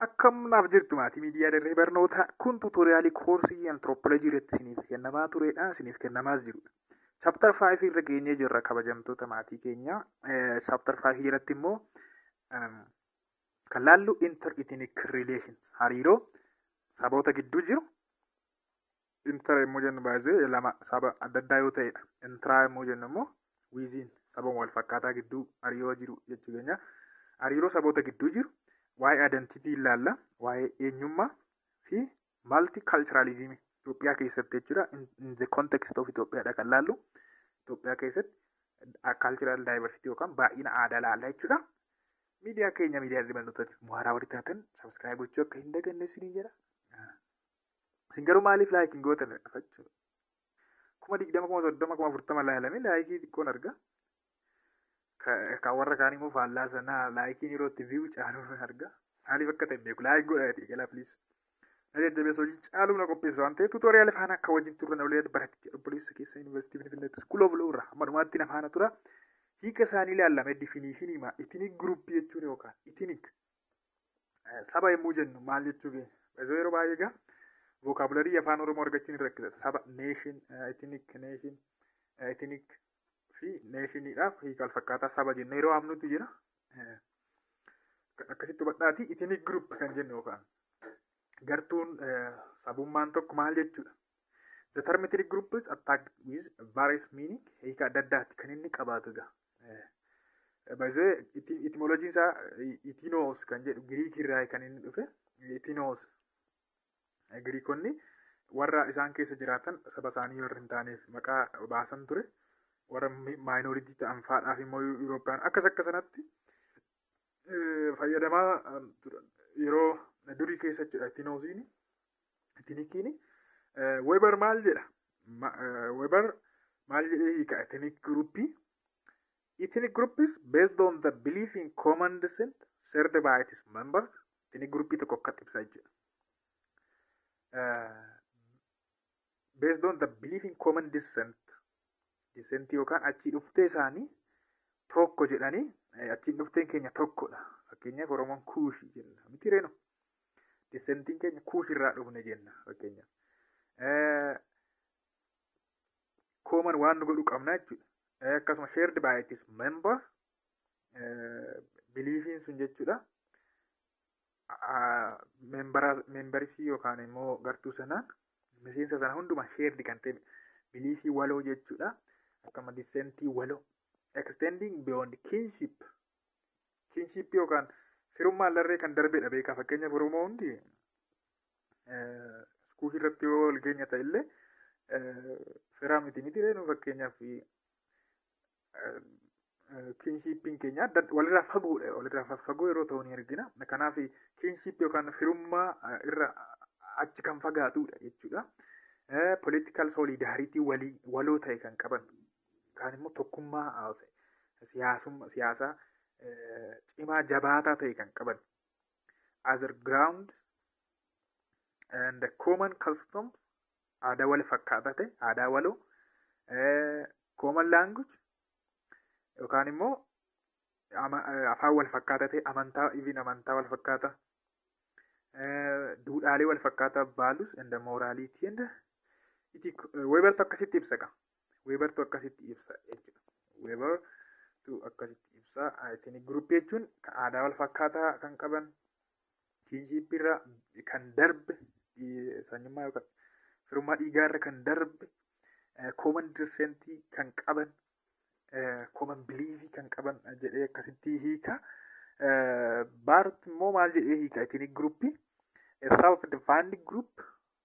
Akkam naaf jirtu maatii miidiyaa dirree barnootaa kun tuutoriyaalii koorsii antiroopoolojii irratti isiniif kennamaa turedha isiniif kennamaas jirudha. Chaaptar 5 irra geenyee jirra kabajamtoota maatii keenyaa. Chaaptar 5 jalatti immoo kan laallu inter ethnic relations hariiroo saboota gidduu jiru Inter yommuu jennu baay'ee lama saba adda addaa yoo ta'edha. Intraa yommuu jennu immoo wiiziin saba wal fakkaataa gidduu hariiroo jiru jechuu keenya. Hariiroo saboota gidduu jiru waa'ee adantitii ilaalla, waa'ee eenyummaa fi malti kaalchiraalizimii Itoophiyaa keessatti jechuudha. In the context of Itoophiyaadha kan laallu. Itoophiyaa keessatti kaalchiraal daayivarsitii yookaan baay'ina aadaa laalla jechuudha. Miidiyaa keenya miidiyaa dirbannootatti muhaaraa warri taatan sabiskiraayib gochuu akka hin daganne isiniin jedha. Isin garuu maaliif laayik hin gootan dhafachuu? Kuma digdama kuma soddoma kuma afurtama laalame laayikii xiqqoon arga. Kan warra kaan immoo faallaa sanaa laayikiin yeroo itti viiwu caaluu nan arga. Maaliif akka ta'e beeku laayik godha jedhee galaa piliis. Na jajjabeessa hojii caaluu na qopheessa waan ta'eef tuutooriyaal faana akka wajjin turre na waliin baratti jedha obboleessa keessa yuunivarsiitii Finfinneetti iskuul oobuloo irraa amma dhumaatti na faana tura. Hiika isaanii ilaalame difiniishinii maa itinik guruppii jechuun yookaan itinik Saba yommuu jennu maal jechuu keenya? Baay'ee yeroo baay'ee egaa vokaabularii afaan Oromoo argachuun hin rakkisa. Saba, nation, ethnic, nation, ethnic fi nationidhaaf hiika alfakkaataa saba jenna yeroo amnutti jira. Akkasitti hubadhaati ethnic group kan jennu yookaan gartuun sabummaan tokko maal jechuudha? The term ethnic group is attacked with various meaning hiika adda addaatti kan inni qabaatu egaa. Baay'ee etimologiin isaa itinoos kan jedhu Giriikii irraa kan inni dhufe itinoos Giriikonni warra isaan keessa jiraatan saba isaanii warra hin taaneef maqaa baasan ture warra maayinooritii ta'an faadhaaf immoo Yurooppiyaan akkas akka sanatti fayyadamaa yeroo durii keessa jechuudha itinoosiin Etinikiin Weber maal jedha? Weber maal jedhee hiika ethnic group? Ethnic group is based on the belief in common descent shared by its members. Ethnic group tokko akka ibsaa jechuudha. Based on the belief in common descent. Descent yookaan achii dhuftee isaanii tokko jedhanii achiin dhufteen keenya tokkodha. Fakkeenyaaf Oromoon Kuushii jenna. Miti reenu. Dissentiin keenya kuush irraa dhufne jenna fakkeenyaaf. Kooman waan nu godhu qabna jechuudha. Akkasuma shared by its members biliifiin sun jechuudha. Membarisii yookaan immoo gartuu sanaan miseensa sana hundumaa shared kan ta'e biliifii waloo jechuudha. Akkama dissentii waloo. Extending beyond kinship kinshiippii yookaan firummaan larree kan darbedha beekaa fakkeenyaaf oromoo hundi iskuufii irratti yoo wal geenya ta'e illee firaa miti miti reenu fakkeenyaaf kinshiippiin keenya adda walirraa fagoodha walirraa fagoo yeroo ta'u ni argina kanaaf kinshiippii yookaan firummaa irra achi kan fagaatudha jechuudha. Political solidarity walii waloo ta'e kan qaban yookaan immoo tokkummaa siyaasaa cimaa jabaataa ta'e kan qaban other grounds and common customs aadaa wal fakkaataa ta'e aadaa waloo common language yookaan immoo afaan wal fakkaataa ta'e amantaa even amantaa wal fakkaataa duudhaalee wal fakkaataa values and morality and webertu akkasitti ibsa qaba. Weebartu akkasitti ibsa jechuudha. Weebartu akkasitti ibsa. Etiniik guruppii jechuun kan aadaa wal fakkaataa kan qaban kinshiippii irra kan darbe sanyummaa yookaan firummaa dhiigaa irra kan darbe kooman dirsentii kan qaban kooman biliivii kan qaban jedhee akkasitti hiika. Baart immoo maal jedhee hiika? Etiniik guruppii self defined group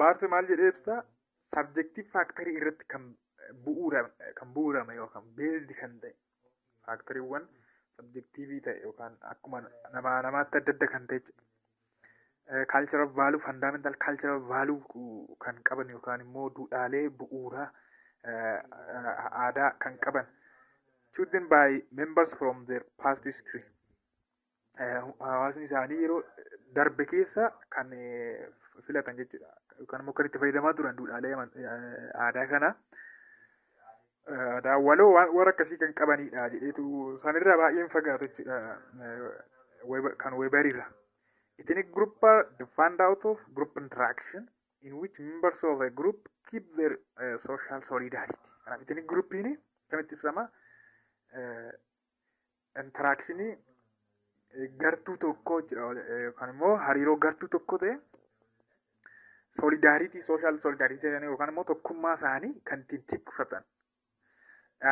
Baarti maal jedhee ibsa sabjektiif faaktarii irratti kan bu'uurame kan bu'uurame yookaan beeldi kan ta'e faaktariiwwan sabjektiivii ta'e yookaan akkuma namaa namaatti adda adda kan ta'e jechuudha. Kaalchara vaaluu fandaamentaal kaalchara vaaluu kan qaban yookaan immoo duudhaalee bu'uuraa aadaa kan qaban chosen by members from their past history hawaasni isaanii yeroo darbe keessa kan filatan jechuudha. Yookaan immoo kan itti fayyadamaa turan duudhaalee aadaa kana. Aadaa waloo waan akkasii kan qabanidha jedheetu sanirraa baay'een fagaatu jechuudha. Kan weebariirra. Ethnic group are defined out of group interaction in which members of a group keep their uh, social solidarity. Kanaaf ethnic groupiin kan itti ibsama. Intaraakshinii gartuu tokkoo jira yookaan immoo hariiroo gartuu tokko ta'e solidaariitii sooshaal solidaariitii jedhanii yookaan immoo tokkummaa isaanii kan ittiin tikfatan.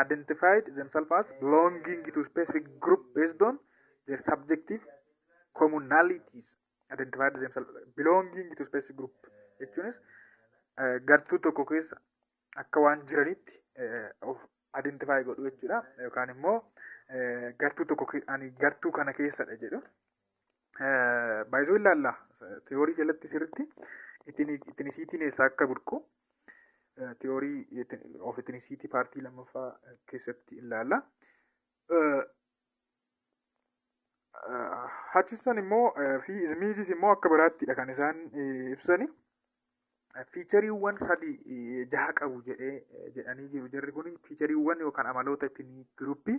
Identified themselves as belonging to specific group based on their subjective commonalities. Identified themselves belonging to specific group jechuunis gartuu tokko keessa akka waan jiranitti of identify godhu jechuudha yookaan immoo gartuu tokko ani gartuu kana keessadha jedhu baay'isuu ilaalla tiyoorii jalatti sirritti itinisiitiin eessaa akka burqu tiyoorii of itinisiitii paartii lammaffaa keessatti ilaalla. Hachisson immoo fi Izmiizis immoo akka biraattidha kan isaan ibsani. Fiichariiwwan sadi jaha qabu jedhee jedhanii jiru. Jarri kun fiichariiwwan yookaan amaloota ittiin giruuppii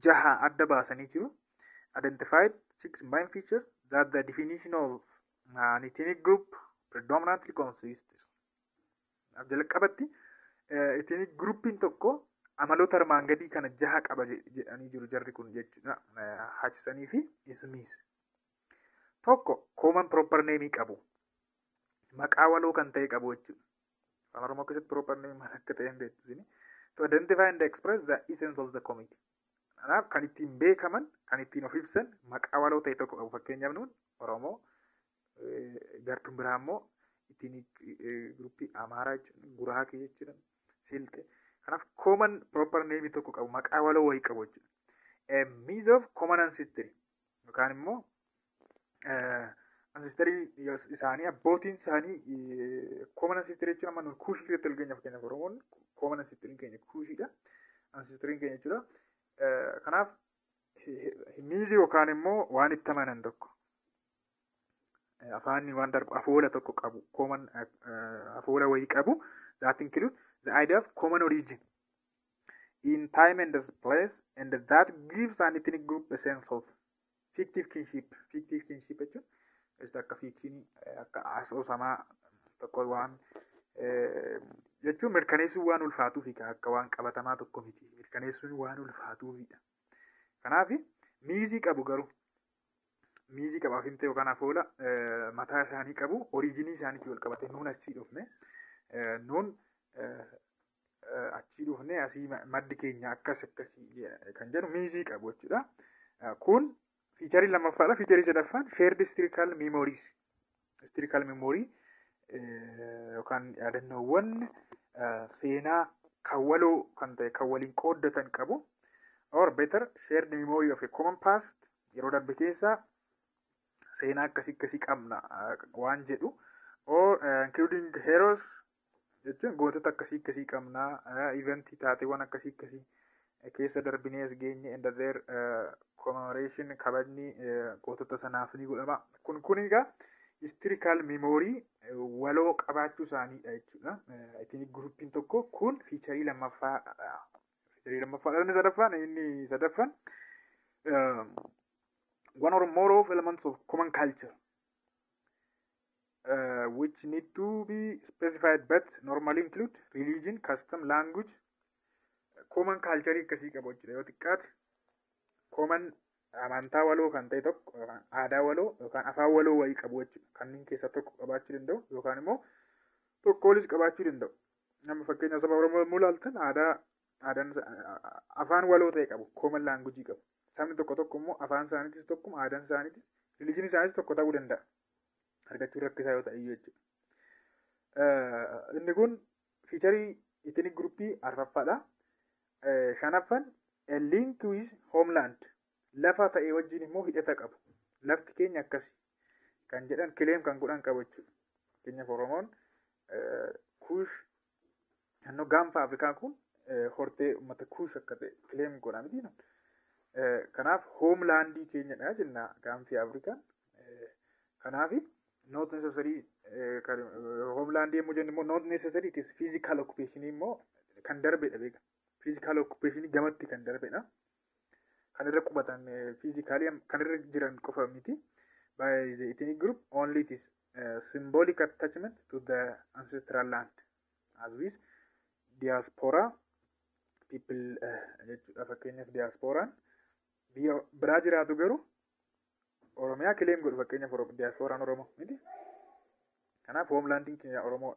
jaha adda baasanii jiru. Identified six main features that the definition of an ethnic group predominantly consists. Jalqabatti ethnic groupiin tokko amaloota armaan gadii kana jaha qaba jedhanii jiru jarri kun jechuudha. Hachisanii fi Ismiis. Tokko common proper name qabu. Maqaa waloo kan ta'e qabu jechuudha. Afaan Oromoo keessatti proper name maal akka ta'e hin beektu isin. To identify and express the essence of the committee. Kanaaf kan ittiin beekaman, kan ittiin of ibsan maqaa waloo ta'e tokko qabu. Fakkeenyaaf nuun Oromoo gartuun biraa immoo ittiin gruppii Amaaraa jechuudha, Guraakee jechuudha, Silxee. Kanaaf common proper name tokko qabu, maqaa waloo wayii qabu jechuudha. A means of common ancestry. yookaan immoo ansistarii isaanii abbootiin isaanii kooman ansistarii jechuun amma kuushii keessatti wal geenyaaf kenna oromoon kooman ansistarii keenya kuushiidha ansistarii keenya jechuudha kanaaf miizi yookaan immoo waan itti amanan tokko afaanni waan darbu afoola tokko qabu kooman afoola wayii qabu zaatiin kiluun the idea of common origin in time and place and that gives an ethnic group a sense of fictive kinship fictive kinship jechuun just akka fiction akka asoosamaa tokko waan jechuun mirkaneessuun waan ulfaatuu fi akka waan qabatamaa tokko miti mirkaneessuun waan ulfaatuu fi kanaaf miizii qabu garuu miizii qabaaf himte yookaan afoola mataa isaanii qabu oriijinii isaaniitti wal qabate nuun achii dhufne nuun achii dhufnee asii maddi keenya akkas akkasii kan jedhu miizii qabu jechuudha. Kun fiicharii lammaffaadha. Fiicharii sadaffaan shared historical memories. Historical memory yookaan yaadannoowwan seenaa kan waloo kan ta'e kan waliin qooddatan qabu. Or better shared memory of a common past yeroo darbe keessa seenaa akkasii akkasii qabna waan jedhu. Or including heroes jechuun gootota akkasii akkasii qabna eventii taateewwan akkasii akkasii keessa darbinee as geenye and their commemoration kabajni gootota sanaaf ni godhama kun kun egaa historical memory waloo qabaachuu isaaniidha jechuudha ittiin guruppiin tokko kun fiicharii lammaffaa fiicharii lammaffaa inni sadaffaan inni sadaffaan one or more of elements of common culture uh, which need to be specified but normally include religion, custom, language, common culture akkasii qabu jechuudha yoo xiqqaate common amantaa waloo kan ta'e tokko yookaan aadaa waloo yookaan afaan waloo wayii qabu jechuudha kanneen keessaa tokko qabaachuu danda'u yookaan immoo tokko olis qabaachuu danda'u nama fakkeenya saba oromoo yommuu ilaaltan aadaa aadaan afaan waloo ta'e qabu common language qabu sabni tokko tokko immoo afaan isaaniitis tokkuma aadaan isaaniitis religion isaaniitis tokko ta'uu danda'a argachuun rakkisaa yoo ta'e iyyuu jechuudha. Eh, Inni kun fiicharii itiniik guruppii arfaffaadha. Eh, Shanaffan a link with homeland lafa ta'e wajjin immoo hidhata qabu. Lafti keenya akkasi kan jedhan kileem kan godhan qabu jechuudha. Fakkeenyaaf Oromoon eh, Kuush Naannoo gaanfa Afrikaa kun hortee uummata kuush akka ta'e kileem godha miti. Kanaaf hoomlaandii keenyadha jenna gaanfi Afrikaa. Kanaaf noot nesesarii hoomlaandii yommuu jennu immoo noot nesesarii itis fiizikaal okkupeeshinii immoo kan darbedha beeka. Fiizikaal okkupeeshinii gamatti kan darbedha. Kan irra qubatan fiizikaalii kan irra jiran qofa miti. By the ethnic group only it is uh, symbolic attachment to the ancestral land as with diaspora people jechuudha fakkeenyaaf diasporaan biyya biraa jiraatu garuu oromiyaa kileem godhu fakkeenyaaf diasporaan oromoo miti kanaaf hoomlaandiin keenya oromoo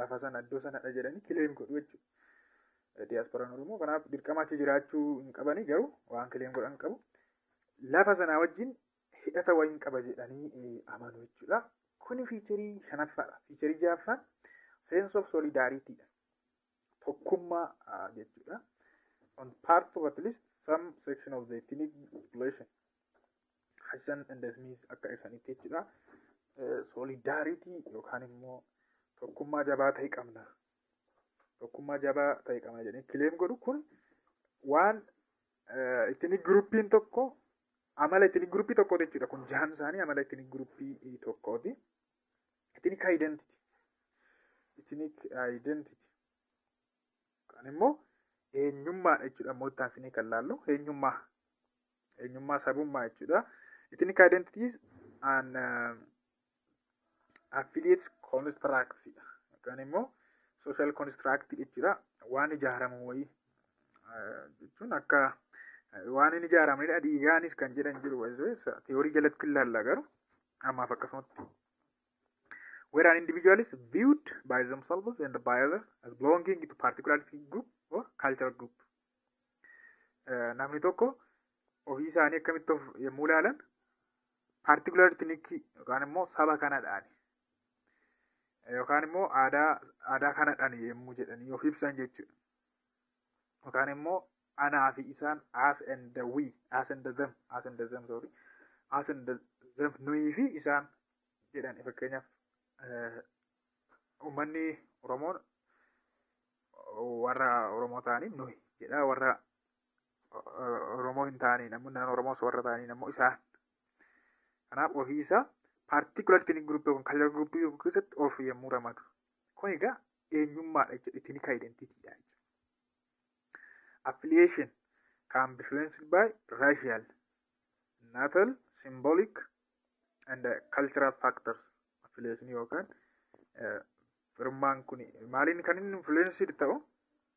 lafa sana iddoo sanadha jedhanii kileem godhu jechuudha diasporaan oromoo kanaaf dirqama achi jiraachuu hin qabanii garuu waan kileem godhan qabu lafa sanaa wajjin hidhata wayiin qaba jedhanii amanu jechuudha. Kuni fiicharii shanaffaadha. Fiicharii ja'affaan sense of solidarity dha. Tokkummaa jechuudha. On part of at least some section of the ethnic population. Hassan and Smith akka ibsanitti jechuudha. Solidarity yookaan immoo tokkummaa jabaa ta'e qabna. Tokkummaa jabaa ta'e qabna jedhanii kileem godhu kun waan Itini guruppiin tokko amala itini guruppii tokkooti jechuudha. Kun jahan isaanii amala itini guruppii tokkooti. Itini identity. Itini identity. Kan immoo eenyummaadha jechuudha. Immoo itti aansinee kan laallu eenyummaa. Eenyummaa sabummaa jechuudha. Itini identity is an uh, affiliate construct yookaan immoo social construct jechuudha waan ijaaramu wayii jechuun akka waan hin ijaaramnedha dhiigaanis kan jedhan jiru tiyoorii jalatti ilaalla garuu ammaaf akkasumatti where an individual is viewed by themselves and by others as belonging to particular group or cultural group namni tokko ofii isaanii akkamitti of yommuu ilaalan particular ethnic yookaan immoo saba kanadhaan yookaan immoo aadaa aadaa kanadhaan yommuu jedhanii of ibsan jechuudha. Yookaan immoo anaa fi isaan as and the we as and the them as and the them sorry as and the them nuyi fi isaan jedhan fakkeenyaaf eh, uummanni Oromoon warra Oromoo ta'anii nuyi jedha warra Oromoo hin taaneen ammoo naannoo Oromoo osoo warra ta'aniin ammoo isaan. Kanaaf ofii isaa particular ethnic group yookiin cultural group tokko keessatti of yommuu ramadu. Kun egaa eenyummaadha jechuudha. Ethnic identity dha jechuudha. Affiliation can be influenced by racial, natal, symbolic and uh, cultural factors. Affiliation yookaan uh, firummaan kun maaliin kan inni influenced ta'u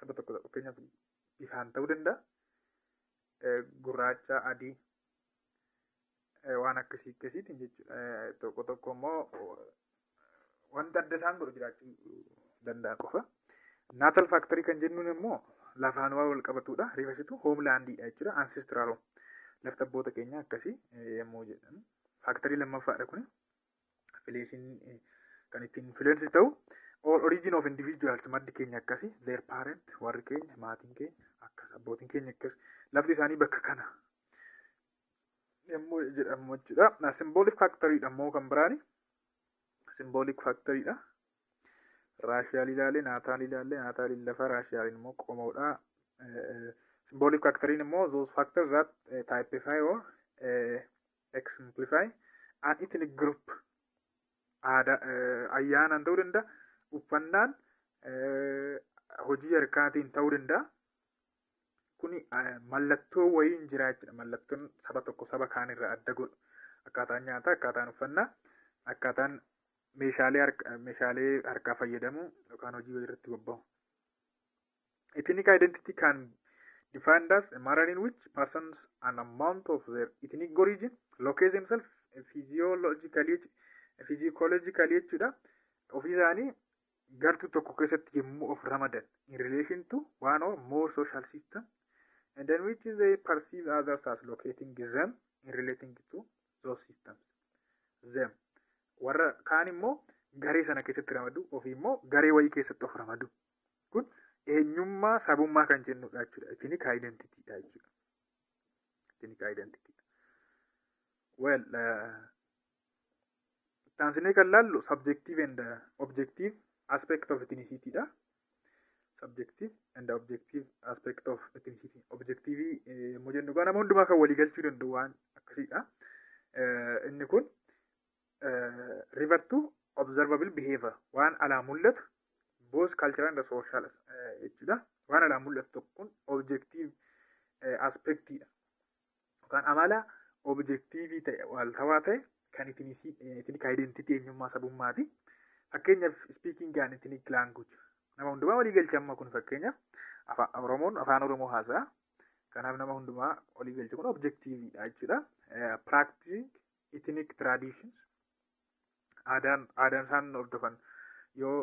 saba tokko tokko fakkeenyaaf bifaan ta'uu danda'a. Eh, Gurraacha, adii eh, waan akkasii akkasiitiin jechuudha. Eh, Tokko tokko immoo eh, wanta adda isaan godhu jiraachuu danda'a qofa. Naatal faaktarii kan jennuun immoo lafaan waan wal qabatudha. Rifasitu hoomlaandiidha jechuudha. Ansistraal lafti abboota keenya akkasii eh, yommuu jedhan. Faaktarii lammaffaadha kun. affiliation kan ittiin influence ta'u or origin of individuals maddi keenya akkasi their parent warri keenya maatiin keenya akkas abbootiin keenya akkas lafti isaanii bakka kana yommuu jedhamu jechuudha symbolic factory dha immoo kan biraani symbolic factory dha raashiyaal ilaalee naataal ilaalee naataal lafa raashiyaaliin immoo qomoodha symbolic factory immoo those factors that typify or Exemplify an ethnic group aadaa eh, ayyaanaan ta'uu danda'a uffannaan eh, hojii harkaatiin ta'uu danda'a kuni eh, mallattoo wayiin jira jechuudha mallattoon saba tokko saba kaan irraa adda godhu akkaataan nyaataa akkaataan uffannaa akkaataan meeshaalee harka- meeshaalee harkaa fayyadamuu yookaan hojii wayii irratti bobba'u Ethnic identity can be defined as a manner in which persons an amount of their ethnic origin locate themselves physiologically physiologically jechuudha ofii isaanii gartuu tokko keessatti yommuu of ramadan in relation to one or more social system and in which they perceive others as locating them in relating to those systems them warra kaan immoo garee sana keessatti ramadu ofii immoo garee wayii keessatti of ramadu Kun eenyummaa sabummaa kan jennudha jechuudha. Ethnic identity dha jechuudha. Ethnic identity. Well, taansinee kan laallu subjective and objective aspect of ethnicity dha. Subjective and objective aspect of ethnicity. Objective yommuu jennu egaa nama hundumaa kan walii galchuu danda'u waan akkasiidha. Inni kun river to observable behavior waan alaa mul'atu both cultural and social jechuudha waan alaa mul'atu tokkoon objective aspektiidha yookaan amala objektiivii ta'e waaltawaa ta'e kan itiniik identity eenyummaa sabummaati fakkeenyaaf speaking and itiniik language nama hundumaa walii galcha amma kun fakkeenyaaf afaan oromoon afaan oromoo haasa'a kanaaf nama hundumaa walii galcha kun objektiiviidha jechuudha practicing ethnic traditions aadaan aadaan isaan hordofan yoo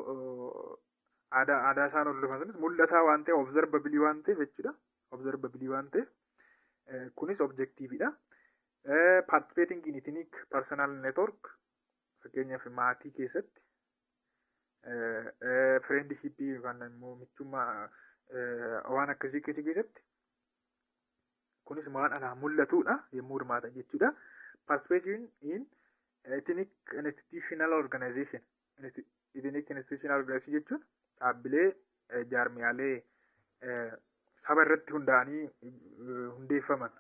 aadaa aadaa isaan hordofan sunis mul'ataa waan ta'e observabilii waan ta'eef jechuudha observabilii waan ta'eef kunis objektiiviidha participating in ethnic personal network fakkeenyaaf maatii keessatti friendship yookaan immoo michummaa waan akkasii keessatti Kunis waan alaa mul'atudha yommuu hirmaatan jechuudha. Participation in ethnic institutional organization. Ethnic institutional organization jechuun dhaabbilee jaarmiyaalee saba irratti hundaa'anii hundeeffaman.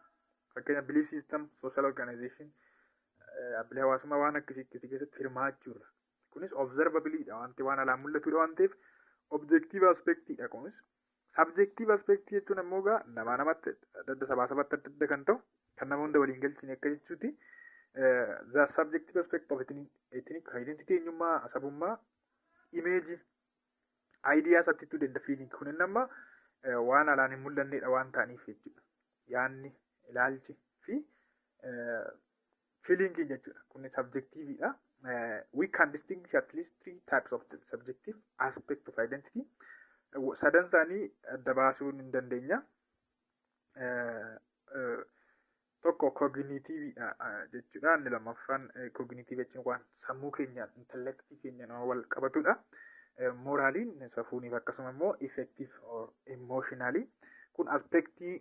Fakkeenya belief system, social organization, dhaabbilee hawaasummaa waan akkasii akkasii keessatti hirmaachuudha. Kunis observabilidha wanti waan alaa mul'atudha waan ta'eef objective aspectidha kunis Subjective aspect jechuun ammoo egaa namaa namatti adda adda sabaa sabatti adda adda kan ta'u kan nama hunda waliin galchine akka jechuuti. The subjective aspect of ethnic identity eenyummaa sabummaa image ideas attitude and feeling kunin amma waan alaan hin mul'annedha waan ta'aniif jechuudha. Yaanni ilaalchi fi Feeling jechuudha. Kun subjective dha. We can distinguish at least three types of subjective aspect of identity. Sadan isaanii adda baasuu ni dandeenya. Tokko cognitive dha jechuudha. Inni lammaffaan cognitive jechuun waan sammuu keenyaan intellectii keenyaan wal qabatudha. Moraaliin safuuniif akkasuma immoo effective or emotionally kun aspektii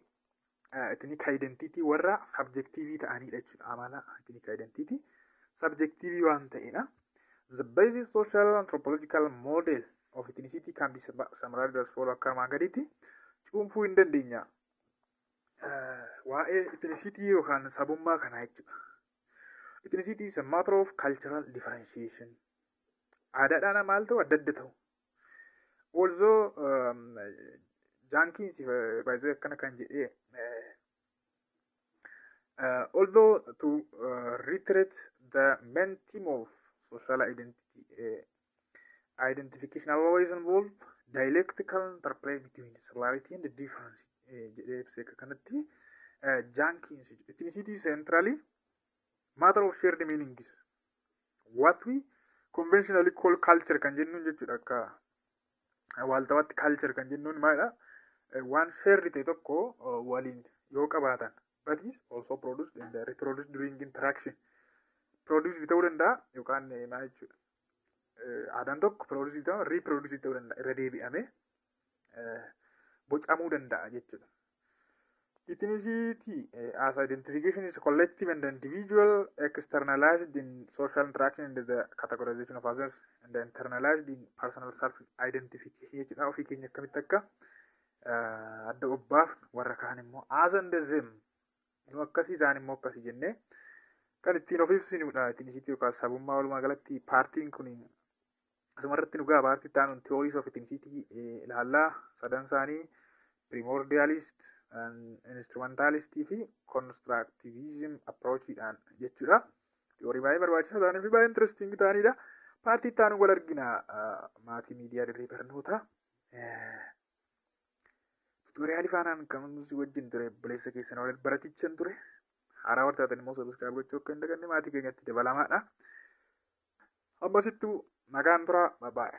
etiniik identiitii warra sabjektiivii ta'aniidha jechuudha amala etiniik identiitii sabjektiivii waan ta'eedha. The basic social anthropological model of ethnicity can be summarized as follows akka armaan gadiitti cuunfuu hin dandeenya. Waa'ee ethnicitii yookaan sabummaa kanaa jechuudha. Ethnicity is a matter of cultural differentiation. Aadaadhaan maal ta'u adda adda ta'u. Although jaankiin si baay'isuu akkana kan jedhee Uh, although to uh, reiterate the main theme of social identity uh, identification always involve dialectical interplay between similarity and difference jedhee ibsee akka kanatti jaankiinsi etnicity centrally Matter of shared meanings. What we conventionally call culture kan jennuun jechuudha akka waaltawaatti culture kan jennuun maalidha? Waan shared ta'e tokko waliin yoo qabaatan but is also produced and reproduced during interaction. Produced ta'uu danda'a yookaan maal jechuudha? Aadaan tokko produced ta'uu reproduced ta'uu danda'a irra deebi'amee bocamuu danda'a jechuudha. Ethnicity as identification is collective and individual externalized in social interaction and the categorization of others and internalized in personal self identification jechuudha ofii keenya akkamitti akka adda obbaaf warra kaan immoo as and them nu akkasii isaan immoo akkasii jennee kan ittiin of ibsinudha ethnicity yookaan sabummaa walumaa galatti paartiin kun Asumarratti nu gaha paartii itti aanuun theories of ethnicity ilaalla. Sadan isaanii primordialist, instrumentalist fi constructivism approachidhaan jechuudha. Theory baay'ee barbaachisaa ta'anii fi baay'ee interesting ta'anidha. Paartii itti aanuun wal argina maatii miidiyaa dirree barnoota. Tutoriyaali faanaan kan nuti wajjin ture buleessa keessan waliin baratichan ture. Haaraa wartaatan immoo sabiskiraayib gochuu akka hin daganne maatii keenyatti dabalamaadha. Obbo Sittuu nagaan turaa babaa'e.